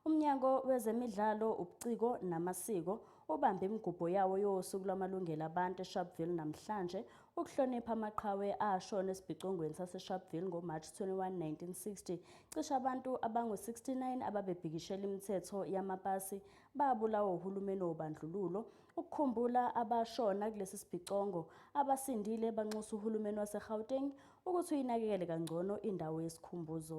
UMnyango wezeMidlalo, ubuCiko namaSiko ubambe imigubho yawo yoSuku lwamaLungelo aBantu eSharpeville namhlanje ukuhlonipha amaqhawe ashona esibhicongweni saseSharpeville ngoMarch 21, 1960. Cishe abantu abangu-69 ababebhikishela imithetho yamapasi babulawa uhulumeni wobandlululo. Ukukhumbula abashona kulesi sibhicongo, abasindile banxusa uhulumeni waseGauteng ukuthi uyinakekele kangcono indawo yesikhumbuzo.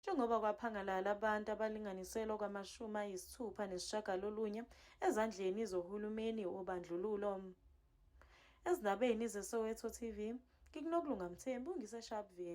njengoba kwaphangalala abantu abalinganiselwa kwamashumi ayisithupha nesishagalolunye ezandleni zohulumeni wobandlululo ezindabeni zesoweto tv ngikunokulunga mthembu ngisesharpville